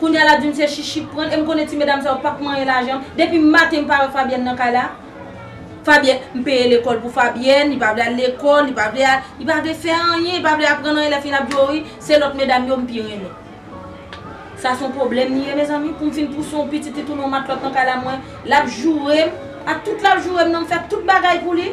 Kounya lap dim se chichi k pranl em konnen ti medam sa yo pap manyen lajanm depi maten m pa wè Fabienne nan kay la Fabienne m peye lekòl pou Fabienne li pa vle al lekòl li pa vle al li pa vle fè anyen li pa vle aprann anyen lè fin lap di w wi se lòt medam yo m pi renmen sa son pwoblèm li ye mezanmi poum fin pouse yon pitit li tounen yon matlòt nan kay la mwen lap jourem ak tout lap jourem nan m fè tout bagay pou li.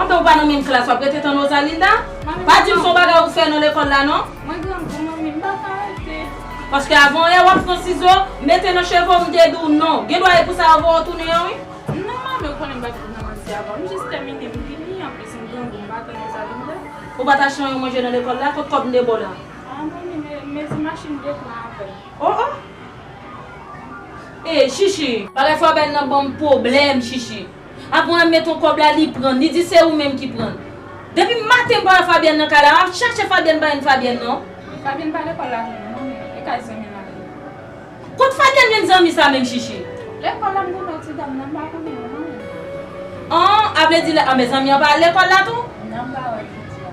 Antan ou pa nan menm klas wap rete tann Rosalinda? Pa dim son bagay ou fè nan lekòl la non. Mwen grangou manmi m paka rete. Paske avan yè wap pran sizo mete nan cheve w m te di w non. Gendwa e pou sa yo voye w tounen an wi. Non manmi ou konnen m pa fin nan manje avan. M jis tèmine m vini anplis m grangou m pa tann Rosalinda. Ou pat achte anyon manje nan lekòl la? Kot kòb m te ba w la? Ah manmi me mezi machin m te pran avèl. Oh oh! Ey Shishi! Bagay fò bèl nan banm pwoblèm Shishi. Aprè mwen met on kòb la li prann li di se ou menm ki prann Depi maten m pa wè Fabienne nan kay la map chache Fabienne pa jwenn Fabienne non. Fabienne pa lekòl la vre non men e kay zanmi l ale. Kot Fabienne jwenn zanmi sa menm chichi. Lekòl la m konn wè ti dam nan m pa konnen l non. An a vle di lè anben zanmi an pa al lekòl la tou? Nan m pa wè l jodi a.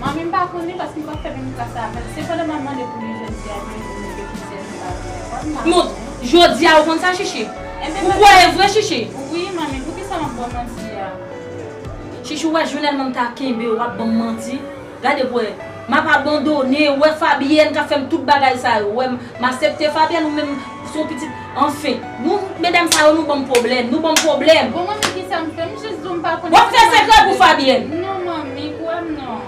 Manmi m pa konnen paske m pap fè menm klas avèl. Sepandan map mande pou li jodi a yon jou mete ki sèl li pa vini lekòl m pa konnen. Non jodi a ou konn sa Chichi? Ou kwè vre Chichi? Wi manmi poukisa map baw manti a? Chichi ou wè jounal manm ta kenbe ou wap banm manti? Gade pou wè map abandone ou wè Fabienne kap fèm tout bagay sa yo ou wè m asepte Fabienne ou menm son pitit Anfen. Nou medam sa yo nou banm pwoblèm. Nou banm pwoblèm. Bon manmi kisam fè m jis dou m pa konnen Wap fè sekrè pou Fabienne. Non manmi kwèm non.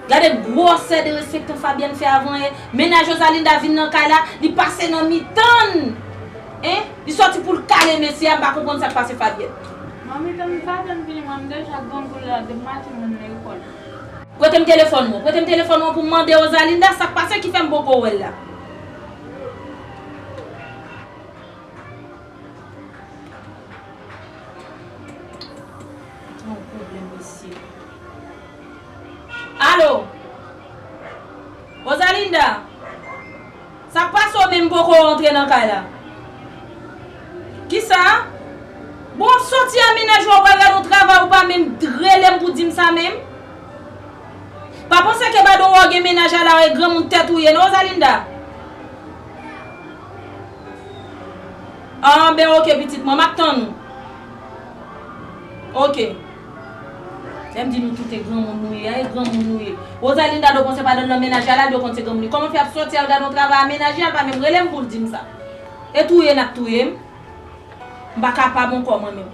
Gade gwòsè derespektan Fabienne fè avan ye mennaj Rosalinda vin nan kay la li pase nan mitann hein li sòti poul kale mesye a m pa konprann sak pase Fabienne. Manmi tann Fabienne vini mwen m deja grangou la depi maten moun nan yo konn. Pretem telefòn ou an. Pretem telefòn ou an pou m mande Rosalinda sak pase ki fèm poko wèl la. Alo Rosalinda Sak pase w menm m poko rantre nan kay la Kisa Bon w ap soti a menaj ou a wè lè nou travay ou pa menm relem pou dim sa menm Pa panse ke badon wè w gen mennaj a la e granmoun tèt ou ye non Rosalinda. An ben ok pitit mwen, map tann ou. Ok. Lè m di nou toute granmoun nou ye a e granmoun nou ye. Rosalinda do panse badon nan mennaj a la do konn se granmoun li. Koman fè al soti al gade yon travay a mennaje a l pa menm rele m pou l di m sa. E touye nap touye m. M pa kapab ankò mwen menm.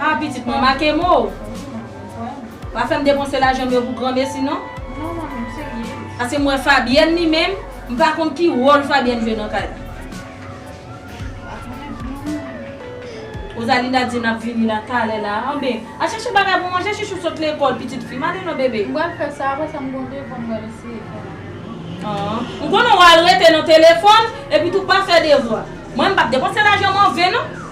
Haa pitit mwen make mo ou. Pa fè m depanse lajan m yo pou granmesi non. Non manmi m serye. Paske m wè Fabyèn li menm, m pa konn ki wòl Fabyèn jwe nan kay la. M pa konnen non. Rosalinda di n ap vini la talè la. Anben, al chache bagay pou manje Chichou sot lekòl pitit fi m. Ale non bebe. M pral fè sa, apre sa m gen yon devwa m pral eseye fè la. Haa. M konnen w al rete nan telefòn, epitou pa fè devwa. Mwen m p ap depanse lajan m an ven non.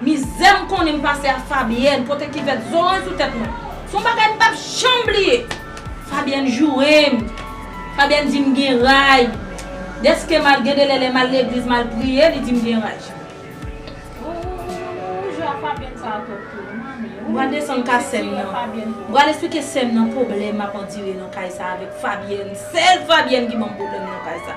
Mizè m konnen m pase a Fabienne pote kivèt zoranj sou tèt mwen. S on bagay m pap janm bliye. Fabienne joure m. Fabienne di m gen ray. Dèske m al gen delè lè m al legliz m al priye li di m gen ray. Ooh je a Fabienne sa a twòp pou mwen Manmi ooh. M pral desann ka sè m nan. M pral esplike sè m nan pwoblèm m ap andire nan kay sa a avèk Fabienne. Sèl Fabienne ki ban m pwoblèm nan kay sa.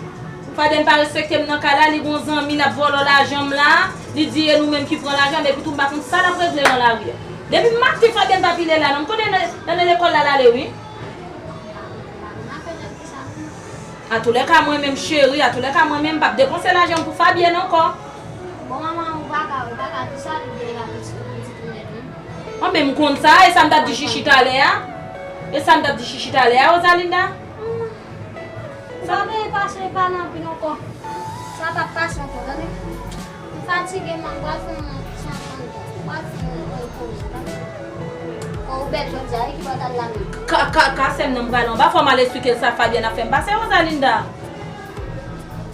Ou pa dèm pa respektem nan kay la li gon zanmi lap vòlò lajanm la li di e nou menm ki pran lajanm epi tou m pa konn sa lap regle nan lari a depi m maten fabien pa pile la non m konnen lane lekòl lal ale wi atoulèka mwen menm cheri atoulèka mwen menm m pap depanse lajanm pou fabien ankò anben m konn sa e sam tap di chichi talè a e sam tap di chichi talè a rosalinda. Humm sa vle e pase e pale anpil anko. Sa pap pase anko tande. M fatige man m pral fon ti yon fon dlo. M pral fon yon fon poze tande. Kò ou bèl jodia wi ki bò tal la menm. Kaka sèm nan m pral anba fò m al esplike l sa Fabienne ap fè m pase Rosalinda.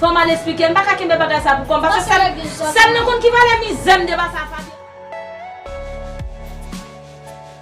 Fò m al esplike l m paka kenbe bagay sa pou kò m pase sèm sèm nan konn ki valè mizè m devan sa Fabienne.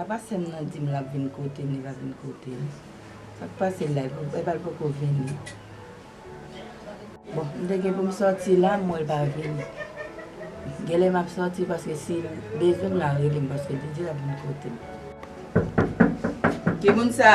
Apa sèm nan dim lap vin kotem li pa vin kotem sak pase la epal poko vini bon m te gen poum soti la m wèl pa vini genlè map soti paske sil bezwenm lap relem paske li di lap vin kotem. Kimoun sa?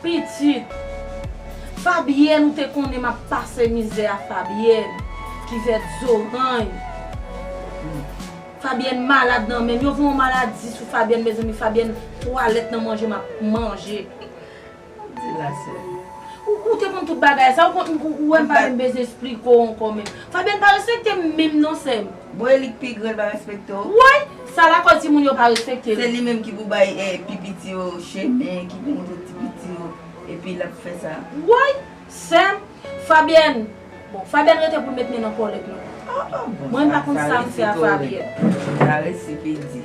Pitit! Fabyèn ou te konnen m ap pase mizè a Fabyèn ki vèt zorany Fabyèn malad nan menm yo voye yon maladi sou Fabyèn mezanmi Fabyèn twalèt nan manje m ap manje Map di la sè Ou te konn tout bagay sa ou konn ou wè m pa menm bezwen esplike w ankò menm Fabyèn pa respekte m menm non sè m. Bon eli k pi gran li pa respekte w. Woy! Sa lakòz ti moun yo pa respekte l. Se li menm ki pou bay pi piti yo chemen, ki pou montre ti piti yo epi lap fè sa. Woy! Sèm, Fabyèn, bon Fabyèn rete pou l met men nan kòlèt nou. Mwen pa konn sa m fè a Fabyèn. Sa resi pi di.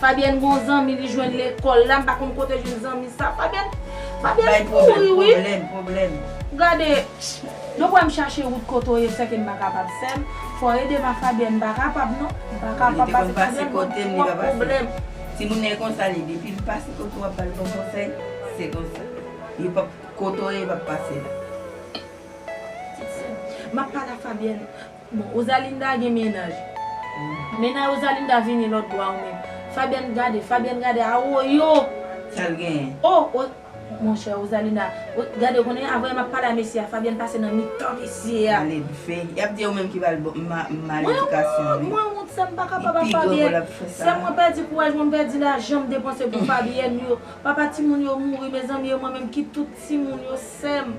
Fabienne gon zanmi li jwenn lekol la m pa konn kote jwenn zanmi sa Fabienne Fabienne kouri wi. Bay pwoblèm pwoblèm pwoblèm. Gade Donk wèm chache wout kote w ye sèke m pa kapab sèm fò edem a Fabienne m pa kapab non m pa kapab pase Fabienne gon twòp pwoblèm. Timoun e konsa li depil pase kote w ap bal bon konsèy se konsa li pap kote w ye li pap pase la. Map pale a Fabienne Bon Rosalinda gen mennaj. Mennaj Rosalinda vini lòt bò a ou menm. Fabienne gade, Fabienne gade a woyoo! Sal genyen? Oh o monchè Rosalinda gade ou konnen avan map pale a mesye a Fabienne pase nan mitan mesye a. Male dfe. Yap di e ou menm ki bal bon mal edikasyon wi. Mwen wont sèm pa kapab ak Fabienne. Sèm mwen pèdi kouraj mwen pèdi lajan m depanse pou Fabienne yo. Papa timoun yo mouri mezanmi e mwen menm ki tout timoun yo sèm.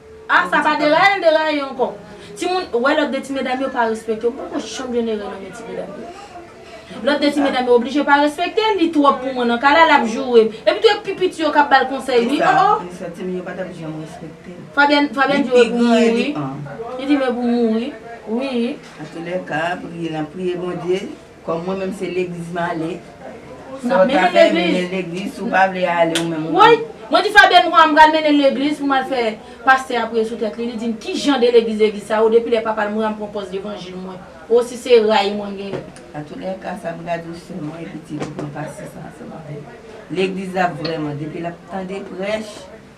Ah sa pa deraye l deraye ankò timoun wè lòt 2 ti medam yo pa respekte yo m poko janm jwenn erè nan men ti medam yo lòt 2 ti medam yo oblije pa respekte l li twòp pou mwen nan ka la lap joure m epitou e pi piti yo kap bal konsèy wi oh oh Fabienne Fabienne di yo e pou m mouri li di m e pou m mouri wi. Kòm mwen menm se legliz m ale. Sa w ta fè, mennen legliz, si w pa vle ale ou menm ou. Woy! Mwen di Fabie m pran m pral mennen l legliz pou m al fè pastè a priye sou tèt li. Li di m ki jan de legliz legliz sa ou depi lè papa l mouri a m pran pòz levanjil mwen. O si se ray mwen genyen. Atoulèka sa m gade w sè mwen e pitit ou pran pastè sa ansanm avè l. Legliz la vrèman depi l ap tande prèch.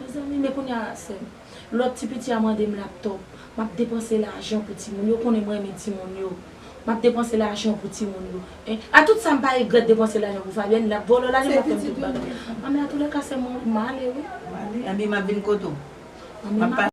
Mezanmi men kounya sèm. Lòt ti piti a mandem laptop. Map depanse lajan pou timoun yo konnen m renmen timoun yo. Map depanse lajan pou timoun yo. Eh a tout sa m pa regrèt depanse lajan pou Fabienne lap vòlò lajan lap fèm tout bagay. An men atoulèka sèm mwen m ale wi. M ale anben map vin kote w. An men map.